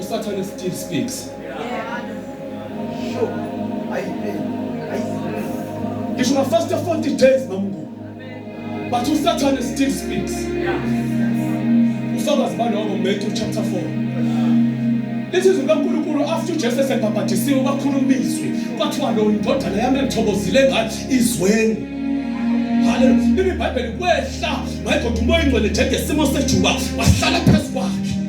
usathane still speaks ngisho ngafasta 40 days mamngu but usathane still speaks ufakazi baloko Matthew chapter 4 lithi izwi likaNkulunkulu after uJesu esebhabhadisiwe kwakhuluma izwi kwathiwa lo indodana yami engithokozile ngathi izweni haleluya lithi ibhayibheli kwehla mayigoda umoya ingcwele njengesimo sejuba wahlala phezu kwakhe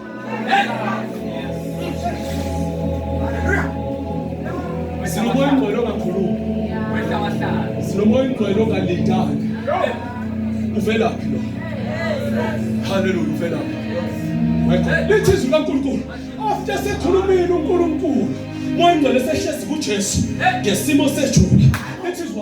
Sinomoya ingcwele ongakhulumi. Sinomoya ingcwele ongalindanga. Uvelaphi lo? Hallelujah uvelaphi? Lithi izwi kaNkulunkulu after sekhulumile uNkulunkulu moya ingcwele sehlezi kuJesu ngesimo sejula. Lithi izwi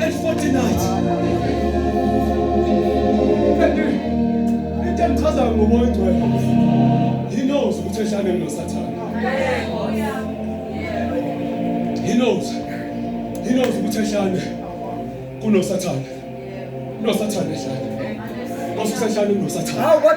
At 49. Kanti into engichazayo ngomoya ongcwele. He knows ukuthi eshane noSathane. He knows. He knows ukuthi eshane kunoSathane. Nosathane eshane. Ngosuku seshane kunoSathane. Hawu kodwa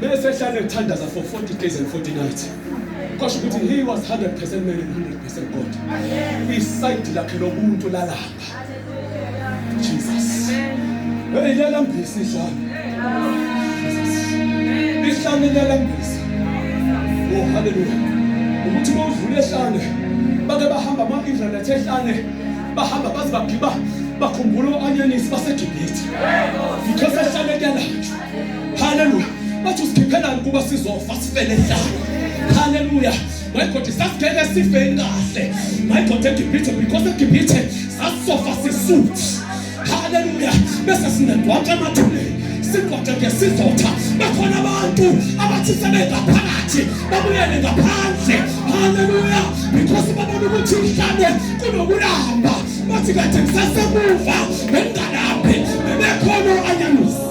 Bese ehlale ethandaza for 40 days and 40 nights. Kwasho ukuthi he was 100% man and 100% God. Iside lakhe lomuntu lalamba. Jesus. Hey, lalambisa ihlane. Ihlane lalambisa. Oh, hallelujah. Ukuthi bawudlule ehlane. Bake bahamba ama-Israelites ehlane. Bahamba baze bagiba bakhumbula u-anyanisi baseGibhithe. Yikho sehlane kuyalatshwa. haleluya bathi usikhiphelani kuba sizofa sifele hlala haleluya my god sasingeke sife kahle my god egibhithe because egibhithe sasizofa sisuthi haleluya bese sinedwaka emathuneni sigwaje ngesizotha bakhona abantu abathi sebengaphakathi babuyele ngaphandle haleluya because babona ukuthi mhlawumbe kunokulamba bathi kade ngisasemuva bengingalaphi bebekhona anyanusi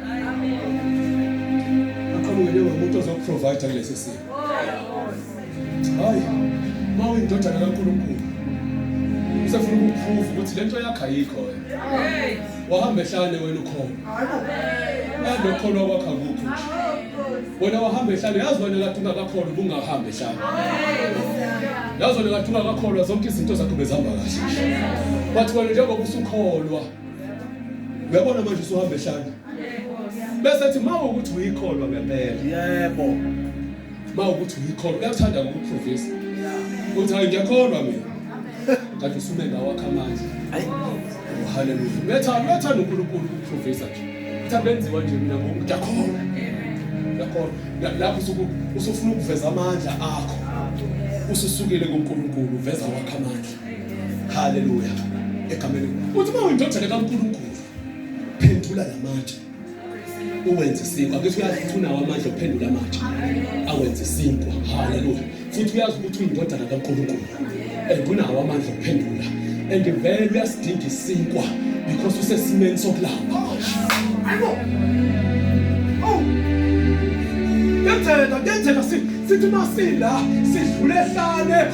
Akhululeke umuntu ozokuprovider kulesi simo. Hayi. Mawu indodana kaNkulunkulu. Usefuna ukuprove ukuthi lento yakhe ayikho wena. Hey. Wahamba ehlane wena ukhona. Yadlo khona kwakha kukho. Wena wahamba ehlane yazi wena kade ungakakholwa ubungahamba ehlane. Yazi wena kade ungakakholwa zonke izinto zakho bezihamba kahle. Wathi wena njengoba usukholwa uyabona manje usuhamba ehlanga bese ethi ma ukuthi uyikholwa ngempela yebo ma ukuthi uyikholwa uyathanda ukuprofesa uthi hayi ngiyakholwa mina kanti usume ngawakho amandla oh, haleluya uyathanda uyathanda unkulunkulu ukuprofesa nje uthi abenziwa nje mina ngoku ngiyakholwa ngiyakholwa lapho usuku usufuna ukuveza amandla akho ususukile kunkulunkulu uveza wakho amandla haleluya egameni uthi uma uyindodana kaNkulunkulu phendula lamatshe uwenze isinkwa bese uyazi ukuthi unawo amandla okuphendula amatshe awenze isinkwa haleluya futhi uyazi ukuthi uyindodana kaNkulunkulu and unawo amandla okuphendula and vele uyasidinga isinkwa because usesimeni sokulamba ayibo oh kenzeka kenzeka sithi masila sidlule hlane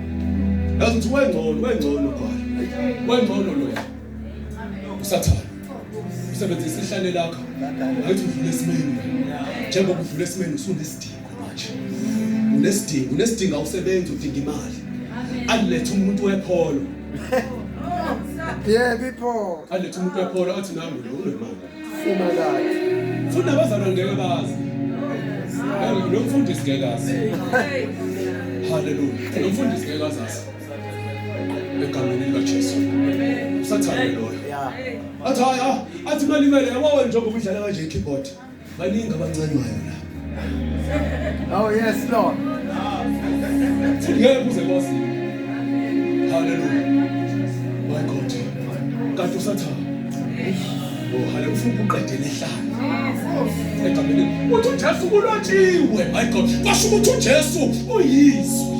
Yazi wengcono wengcono kwayo. Wengcono lo ya. Usathana. Usebenzisa ihlale lakho. Ngathi uvule isimeni. Njengoba uvule isimeni usunesidingo manje. Unesidingo, unesidingo awusebenzi udinga imali. Alethe umuntu wepholo. Yebo ipholo. Alethe umuntu wepholo athi nami lo unemali. Funa kathi. Futhi abazalwa ngeke bazi. Lo mfundisi ngeke azi. Hallelujah. Lo mfundisi ngeke azazi. Egameni likaJesu. Usathane loyo. Athi haya, athi malimele yabo njengoba udlala kanje keyboard. Baningi abancanywayo la. Oh yes Lord. Ngeke uze kwazi. Hallelujah. My God. Kanti usathana. Oh hale ufuna ukuqedela ihlala. Egameni. Uthi uJesu kulotshiwe. My God. Kwasho ukuthi uJesu uyizwe.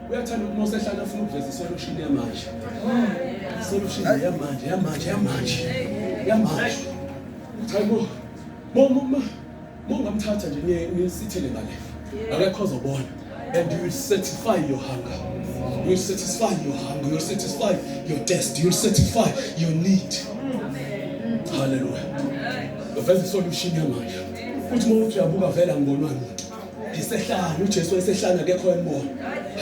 uyathanda uma usehlala afuna ukuveza isolution yamanje isolution yamanje yamanje yamanje yamanje hayibo mongamthatha nje nisithele ngale akekho ozobona and you will satisfy your hunger you will satisfy your hunger you will satisfy your test you will satisfy your need haleluya uveza isolution yamanje futhi uma uthi uyabuka vele angonwa muntu ngisehlanya uJesu wayesehlanya akekho embona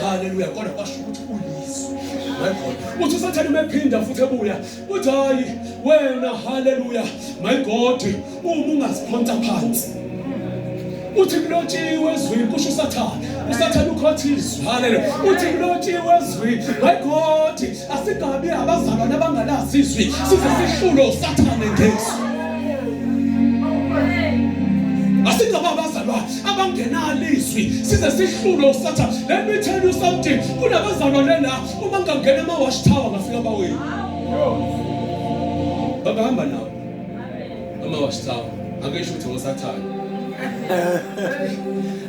haleluya kodwa kwasho ukuthi uyiso my uthi usathane umephinda futhi ebuya uthi hayi wena haleluya my god uma ungaziphonsa phansi uthi kulotshiwe ezwini kusho usathane usathane ukhothizwe haleluya uthi kulotshiwe ezwini my god Asigabi abazalwane abangalazi izwi size sihlulo usathane ngesu. Asingabi abazalwane abangenalo izwi size sihlulo usathane. Let me tell you something. Kunabazalwane la uma ngangena ama watch tower ngafika bawini. Babahamba nawo. Ama watch tower. Akesho ukuthi ngosathane.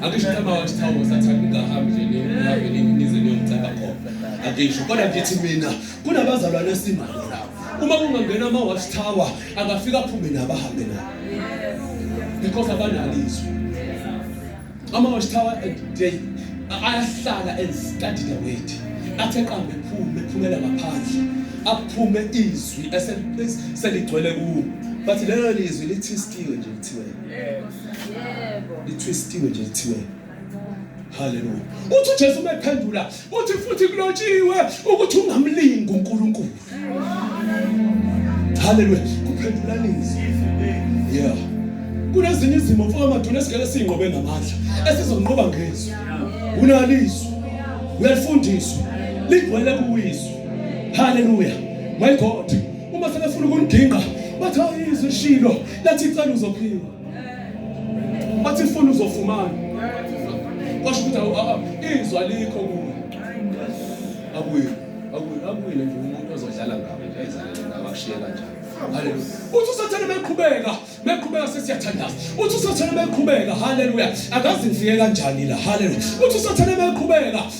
Akesho ukuthi ama watch tower ngosathane ungahambi nje nihambe nize niyomceba khona. angisho kodwa ngithi mina kunabazalwane esinabo lapho uma kungangena ama watch tower angafika aphume nabo ahambe nabo because abanalizwe ama watch tower eh, they ayahlala and study the weight athe qambe phume phumela ngaphandle aphume izwi eseligcwele kuwo bathi lelo lizwi lithistiwe nje kuthiwe yebo lithistiwe nje kuthiwe Haleluya. Uthi uJesu umephendula, uthi futhi kulotshiwe ukuthi ungamlingi uNkulunkulu. Haleluya. Kuphendula nini? Yeah. Kunezinye izimo mfoka maduna esigele singqobe ngamandla esizonqoba ngezwi. Unalizwe. Uyalifundiswa. Ligcwele kuwizwe. Haleluya. My God. Uma selefuna ukunigingqa bathi ayizwe shilo lathi icela uzophiwa. Wathi funa uzofumana. Washo ukuthi awu awu izwa likho kuwe. Abuye. Abuye abuye nje umuntu ozodlala ngawe nje izalele ngawe akushiye kanjani. Haleluya. Uthi usathane meqhubeka, meqhubeka sesiyathandaza. Uthi usathane meqhubeka, haleluya. Akazinziye kanjani la, haleluya. Uthi usathane meqhubeka,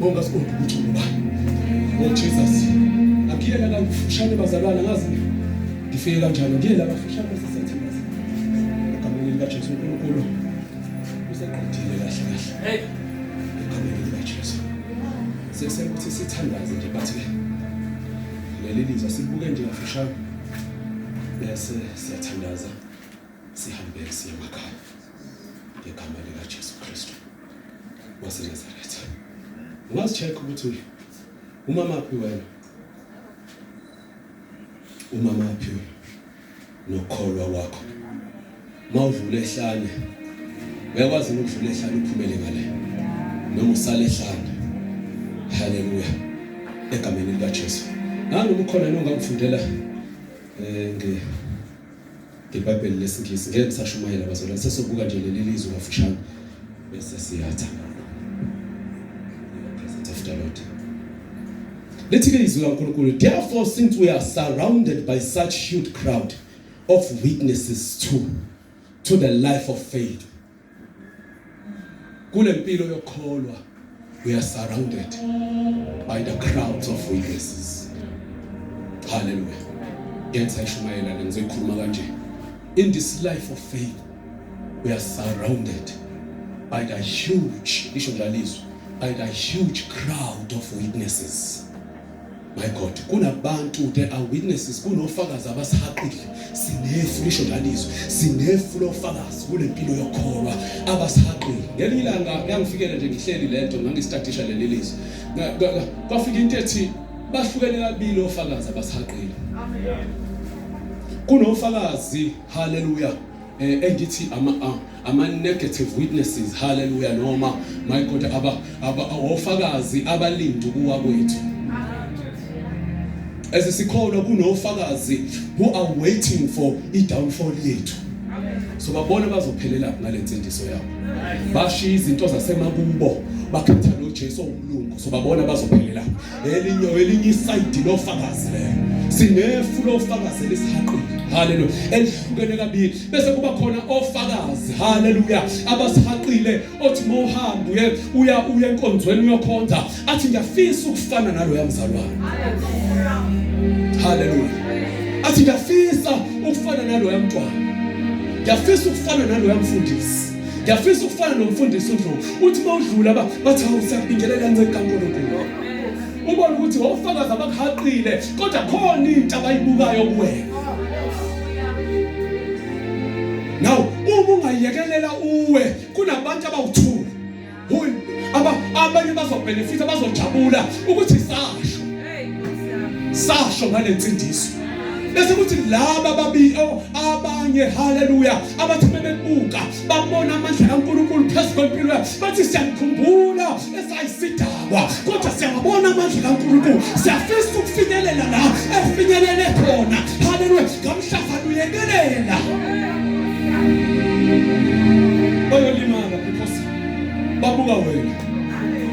Bonga siqonde umculo ba. Oh Jesus. Akile la kufushane bazalwana ngazi. Ngifike kanjalo ngile la kufushane sesethembaza. Egameni lika Jesu uNkulunkulu. Useqedile kahle kahle. Hey. Egameni lika Jesu. Sese ukuthi sithandaze nje bathi leli lizwa sibuke nje kafushane. Bese siyathandaza sihambe siye emakhaya. Ngegama lika Jesu Kristu. waseNazaretha. Ungazicheck ukuthi umamaphi wena. Umamaphi wena nokholwa kwakho. Mawudlula ehlane. Uyakwazi ukudlula ehlane uphumele ngale. Noma usale ehlane. Haleluya. Egameni likaJesu. Nangu umkhona nongakufundela eh nge ngebhayibheli lesingisi ngeke ngisashumayela bazalwane sesobuka nje leli lizwi kafushane bese siyatha lithi ke izwi kankulunkulu therefore since we are surrounded by such huge crowd of witnesses to to the life of faith Kule mpilo yokholwa we are surrounded by the crowds of witnesses. Hallelujah. Yenza ishumayela le ngizoyikhuluma kanje. In this life of faith we are surrounded by the huge, lisho njalo izwi, by the huge crowd of witnesses. My God, kunabantu there are witnesses, kunofakazi abasihaqile. Sinefu lisho lalizwe, sinefu lofakazi kule mpilo yokholwa abasihaqile. Ngelinye ilanga yangifikela nje ngihleli lento ngangistadisha leli lizwe. Kwafika into ethi bahlukene kabili ofakazi abasihaqile. Kunofakazi haleluya eh, engithi ama ah, ama negative witnesses haleluya noma my god aba aba ofakazi abalindi kuwa kwethu as sikholwa kunofakazi who are waiting for i downfall yethu so babona bazophelela ngalensindiso yabo bashiya izinto zasemakubo bakhetha noJesu ongumlungu so babona bazophelela elinye elinye isayidi lofakazi lelo sinefu lofakazi elisihaqile haleluya elihlukene kabili bese kuba khona ofakazi haleluya abasihaqile othi mawuhambe uye uya uye enkonzweni uyokhonza athi ngiyafisa ukufana naloya mzalwane haleluya athi ngiyafisa ukufana naloya mntwana ngiyafisa ukufana naloya mfundisi Ngiyafisa ukufana nomfundisi uNdlovu. Uthi mawudlula ba bathi awusabingela kancane kaNkulunkulu. Ubona ukuthi wofakaza abakuhaqile kodwa khona into abayibukayo kuwena. Now uma ungayekelela uwe kunabantu abawuthula abanye bazobhenefitha bazojabula ukuthi sasho sasho ngale nsindiso bese kuthi laba babili oh, abanye haleluya abathi bebebuka babona amandla kaNkulunkulu phezu kwempilo yabo bathi siyamkhumbula esayisidakwa kodwa siyabona amandla kaNkulunkulu siyafisa ukufinyelela la efinyelele khona haleluya ngamhlaba uyekelela oyolimala babuka wena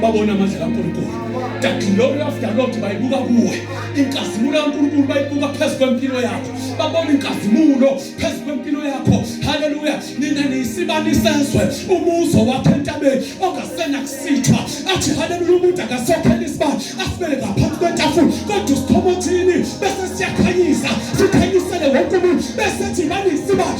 babona amandla kaNkulunkulu that glory of the Lord bayibuka kuwe inkazimulo kaNkulunkulu bayibuka phezu kwempilo yakho babona inkazimulo phezu kwempilo yakho haleluya nina niyisibani sezwe umuzo wakhe entabeni ongasena kusithwa athi haleluya umuntu akasokhela isibani asibele ngaphansi kwentafula kodwa usithomothini bese siyakhanyisa sikhanyisele wonke umuntu bese thina niyisibani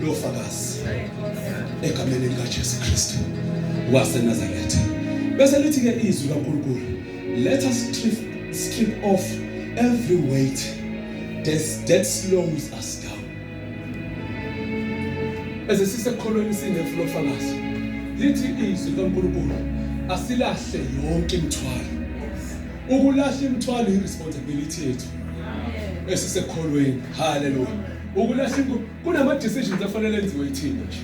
lofakazi egameni likaJesu Kristu waseNazaretha bese lithi ke izwi kaNkulunkulu let us strip, strip off every weight that, that slows us down bese sisekholweni sinefu lofakazi lithi izwi kaNkulunkulu asilahle yonke imithwalo ukulahla imithwalo iresponsibility yethu esisekholweni haleluya ukulahla inkulu kunama-decisions afanele enziwe ithina nje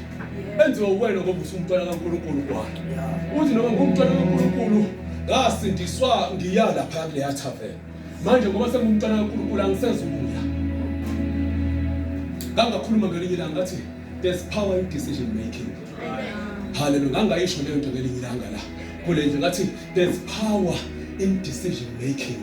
enziwe uwena ngoba usumntwana kankulunkulu kwayo uthi noma ngumntwana kankulunkulu ngasindiswa ngiya lapha kuleya thaveni manje ngoba sengumntwana kankulunkulu angisezubuya ngangakhuluma ngelinye ilanga ngathi there's power in decision making haleluya ngangayisho leyo nto ngelinye ilanga la kule ndlu ngathi there's power in decision making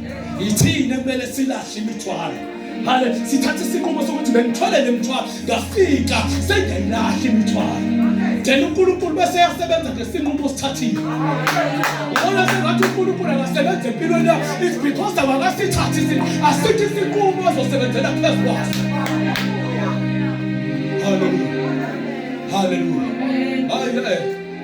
yithina kumele silahle imithwalo hale sithathe isinqumo sokuthi bengithole le mthwalo ngafika sengayilahle imithwalo then unkulunkulu bese yasebenza ngesinqumo osithathile ubona sengathi unkulunkulu akasebenza empilweni yakho it's because awakasithathi isinqumo asithi isinqumo azosebenzela phezu kwaso haleluya haleluya hayi eh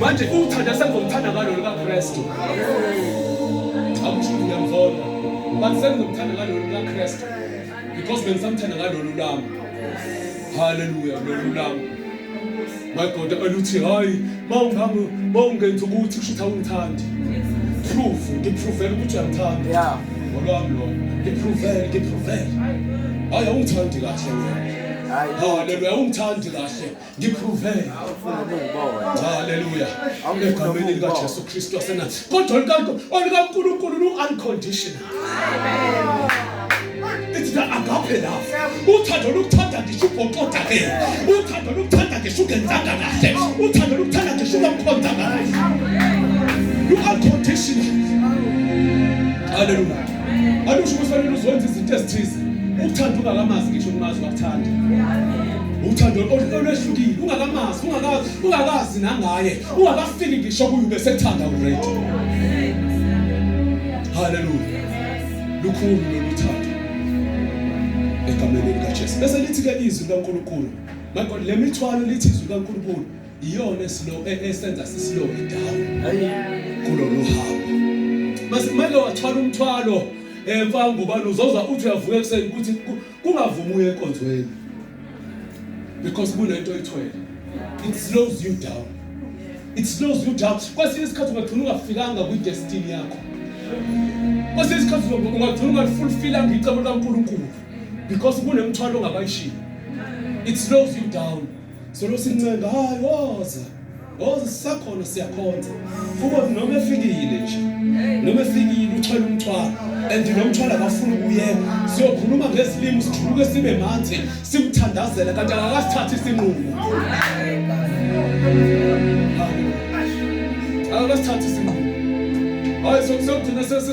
Manje ukuthanda sengizomthanda ngalo likaKristu. Akusho ngiyamvona. But sengizomthanda ngalo likaKristu. Because bengisamthanda ngalo lulami. Hallelujah, lo lulami. My God, aluthi hayi mawungamu mawungenza ukuthi kusho ukuthi awungithandi. Proof, ngipruvela ukuthi uyangithanda. Yeah. Ngolwami lo. Ngipruvela, ngipruvela. Hayi awungithandi kahle wena. Hallelujah, awungithandi kahle. ngiprove haleluya egameni likajesu kristu wasenathi kodwa olikankulunkulu lu-unconditional ithi the agape love uthando lokuthanda ngisho ubhoqoda ke uthando lokuthanda ngisho ungenzanga kahle uthando lokuthanda ngisho ungamkhonzanga kahle lu-unconditional haleluya alusho ukuthi fanele uzwenza izinto ezithize ukuthanda ungakamazi ngisho ungazi wakuthanda uthando olwehlukile ungakamazi ungakazi ungakazi nangaye ungakafiki ngisho kuye ubesethanda already haleluya lukhulu lolu thando egameni likaJesu bese lithi ke izwi likaNkuluNkulu my god le mithwalo lithi izwi likaNkuluNkulu iyona esilo e, esenza sisilo idawo kulolu hambo mase kumele wathwala umthwalo emfana ngubani uzoza uthi uyavuka ekuseni ukuthi Kungavumi uye enkonzweni because kunento oyithwele. It slows you down. It slows you down. Kwesinye isikhathi ungagcina ungafikanga kwi destiny yakho. Kwesinye isikhathi ungagcina ungalifulfillanga icebo likaNkulunkulu because kunemthwalo ongabayishilo. It slows you down. Solo sincenga hayi woza. Woza sisakhona siyakhonza. Kuba noma efikile nje. Noma efikile uthwele umthwalo. And lo mthwalo akafuni ukuyeka. Siyokhuluma ngesilimo sijuluke sibe manje simthandazela kanti akasithathi isinqumo. Akasithathi isinqumo. Hayi sokugcina sesi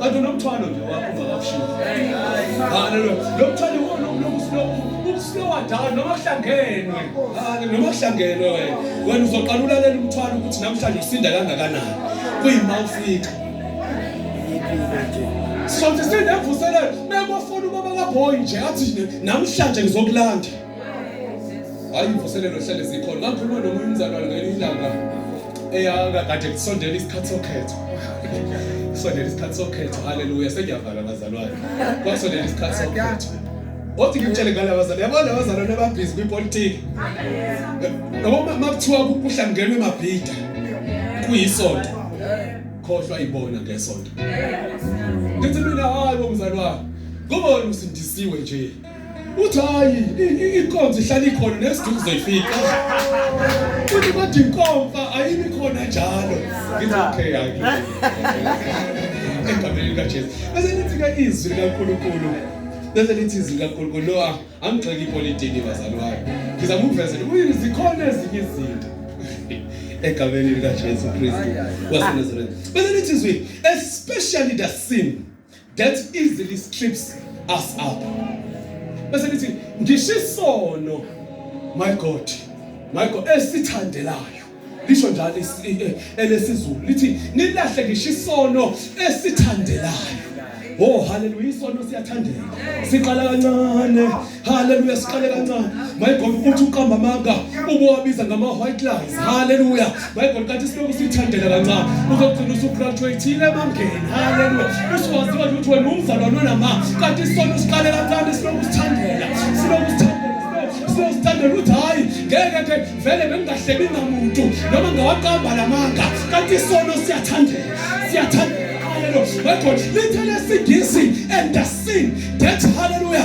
kanti unomthwalo nje wakho ungakawushiyi haleluya lo mthwalo iwona ukusilowadala noma kuhlangenwe noma kuhlangenwe wena wena uzoqala ulalela umthwalo ukuthi namhlanje usinda kangakanani kuyima ufika sonke sinevuselelo mekofuna ubaba kabhoyi nje athi namhlanje ngizokulanda hayi imvuselelo hlale zikhona ngakhuluma nomunye umzalwane ngelinye ilanga eyakade kusondela isikhathi sokhetho kusondela isikhathi sokhetho haleluya sengiyavala bazalwane kwasondela isikhathi sokhetho othi ngimtshele ngala bazalwane yabona abazalwane ababhizi kwipolitiki noma makuthiwa kuhlangenwe emabhida kuyisonto khohlwa ibona ngesonto ngithi mina hayi bomzalwane kubona usindisiwe nje uthi hayi inkonzo ihlala ikhona nesidingo uzoyifika futhi bathi inkomfa ayimi khona njalo ngithi okay yake egameni likajesu bese lithi ke izwi likankulunkulu bese lithi izwi likankulunkulu lo ah, angigxeki ipolitiki bazali wayo ngizama ukuvezela ukuthi zikhona ezinye izinto egameni likajesu kristu wasenazareth bese lithi izwi especially the sin that easily strips us up bese lithi ngisho isono my god my god esithandelayo lisho njalo eh, elesizulu lithi nilahle ngisho isono esithandelayo oh haleluya isono siyathandela siqala kancane Haleluya siqale kancane. My God uthi uqamba amanga ubuwabiza ngama white lies. Haleluya. My God kanti siloku sithandela kancane. Uzogcina usugraduateile emangeni. Haleluya. Usuwaziwa ukuthi wena umzalwane onama kanti isona usiqale kancane siloku sithandela. Siloku sithandela. Siloku sithandela ukuthi hayi ngeke ke vele bengingahleki ngamuntu noma ngawaqamba lamanga kanti isona siyathandela. Siyathandela. Haleluya. My God lithe lesingisi and the sin that haleluya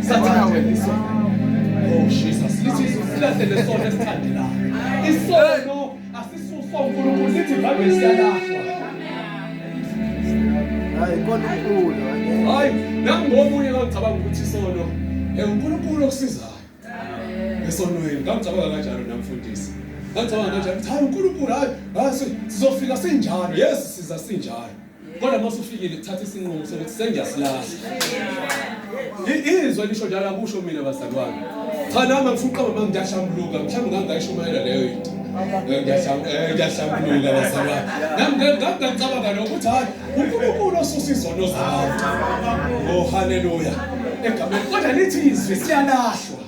Sathana wena isono. Oh Jesus, lithi silahlele isono esithandela. Isono asisuso uNkulunkulu lithi vame siyalahlwa. Hayi kona uNkulunkulu. Hayi, nangomunye ngicabanga ukuthi isono uNkulunkulu okusizayo esonweni ngangicabanga kanjalo namfundisi ngangicabanga kanjalo ukuthi hayi unkulunkulu hayi sizofika sinjalo yes siza sinjalo kodwa uma usufikile kuthatha isinqumo sokuthi sengiyasilahla izwe lisho njalo akusho mina bazalwane cha nami angifuqama uma ngiyashambuluka mhlawumbe ngangayishumayela leyo into ngiyahlambuluka eh, bazalwane nami ngangicabanga nokuthi hayi unkulunkulu osusa izono zabantu oh haleluya egameni kodwa lithi izwi siyalahlwa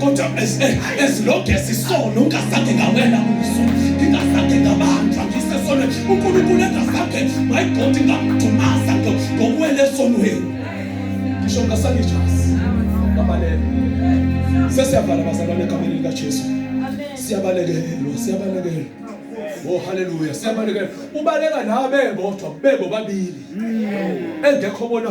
kodwa ezilonge sisono ungazange ngawela kuso ngingazange ngabanjwa ngisesono unkulunkulu engazange my god ngamdumaza ngokuwela esonweni ngisho ngasangijasi ngabalele sesiyavala bazalwane egameni likajesu siyabalekelelwa siyabalekelelwa Oh haleluya siyabalekela ubaleka nawe bebodwa bebo babili engekho bona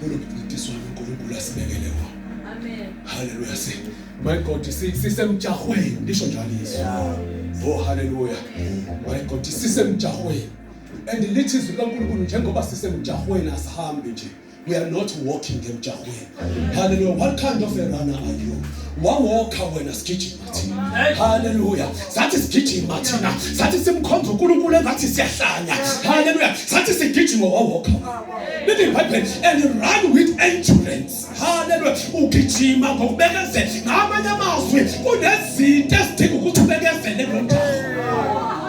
Kunomncintiswano uNkulunkulu asibekele wona. Amen. Hallelujah. Si my God sisemjahweni ndisho njalo izwi. Oh hallelujah. My God sisemjahweni. And lithi izwi loNkulunkulu njengoba sisemjahweni asihambi nje. We are not walking emjahweni. Hallelujah. What kind of a runner are you? wawokha wena sigijima thina haleluya sathi sigijima thina sathi simkhonza uNkulunkulu engathi siyahlanya haleluya sathi sigijima wawokha lithi ibhayibheli and run with endurance haleluya ugijima ngokubekezela ngamanye amazwi kunezinto ezidinga ukuthi ubekezele kulomjaho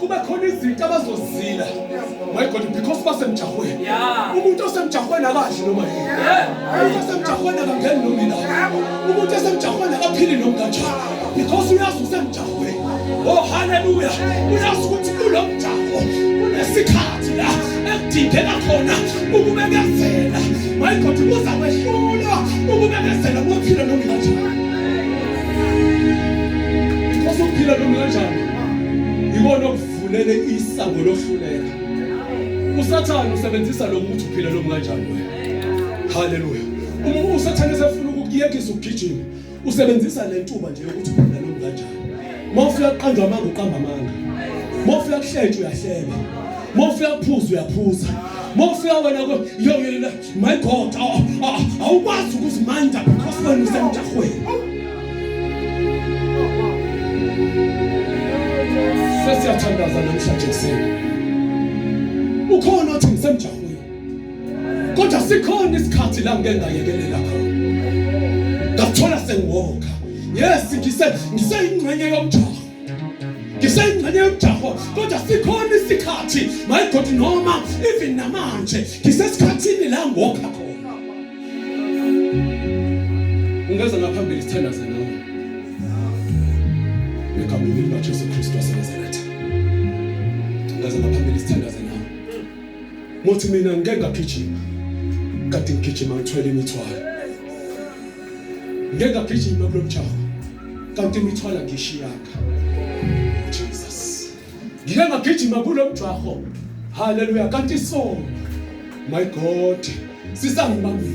kube khona izinto abazozila my god because basemjahweni umuntu osemjahweni akadli noma yini umuntu osemjahweni akangeni noma ila umuntu osemjahweni akaphili noma kanjani because uyazi usemjahweni oh haleluya uyazi ukuthi kulo mjaho kunesikhathi la ekudingeka khona ukubekezela my god kuza kwehlulwa ukubekezela kophila noma kanjani because uphila noma kanjani yikona okuvulele isango lohluleka usathane usebenzisa lo muthi uphila lo kanjani wena haleluya uma usathane sefuna ukuyekisa ukugijima usebenzisa le ntuba nje yokuthi uphila lo kanjani uma ufika kuqanjwa amanga uqamba amanga uma ufika kuhlentsha uyahleba uma ufika kuphuza uyaphuza uma ufika wena My God, awukwazi ukuzimanda because wena usemjahweni. Sesiyathandaza namhlanje kuseni. Ukhona othi ngisemjahweni. Kodwa sikhona isikhathi la ngeke ngayekelela khona. Ngathola sengiwoka. Yes, ngise ngiseyingxenye yomjaho. ngiseyingxenye yomjaho kodwa sikhona isikhathi mayigodi noma even namanje ngisesikhathini la ngokha khona ungeza ngaphambili sithandaze nawe egameni likajesu kristu wasenazaretha ungeza ngaphambili sithandaze nawe mothi mina ngike ngagijima kade ngigijima ngithwele imithwalo ngeke agijime kulo mjaho kanti imithwala ngishiyaka Jesus ngike ngagijima kulo mjaho haleluya kanti so my god sisangibambile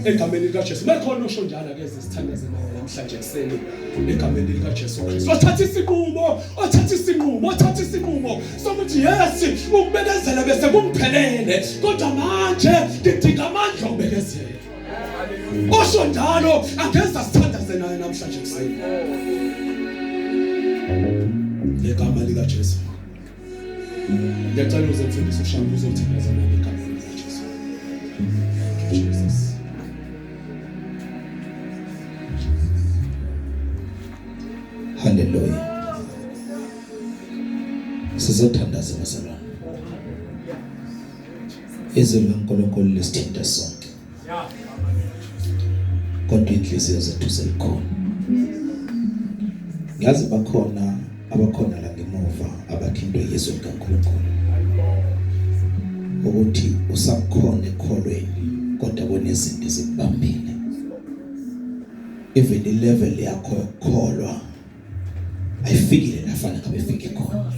egameni likaJesu mekhona osho njalo ke sisithandaze namhlanje kuseni egameni likaJesu Kristu wathatha isinqumo wathatha isinqumo wathatha isinqumo sokuthi yes ukubekezela bese kumphelele kodwa manje ngidinga amandla okubekezela Osho njalo angeza sithandaze naye namhlanje kuseni. Ngegama lika Jesu. Ngiyacela uze mfundisi ushamba uzothandaza naye ngegama lika Jesu. Thank you Jesus. Hallelujah. Sizothandaza bazalwane. Izwi likaNkulunkulu lisithinta sonke. Kodwa inhliziyo zethu selikhona. Ngazi bakhona abakhona la ngemuva abathintwe yizwi likaNkulunkulu. Ukuthi usakhona ekholweni kodwa kunezinto ezikubambile. Even level yakho yokukholwa ayifikile lafana ngabe ifike khona.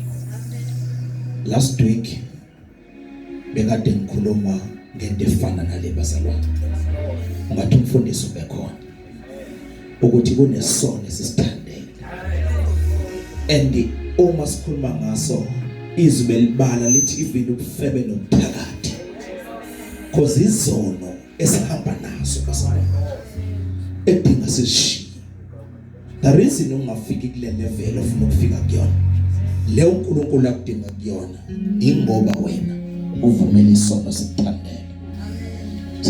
Last week bekade ngikhuluma ngento efana nale bazalwane ungathi umfundisi ubekhona ukuthi kunesono esisithandele and uma sikhuluma ngaso izwi belibala lithi ivile ubufebe nobuthakathi cause izono esihamba nazo bazalwane edinga sishiye The reason ungafiki kule level ofuna ukufika kuyona le uNkulunkulu akudinga kuyona ingoba wena uvumela isono sikuthandela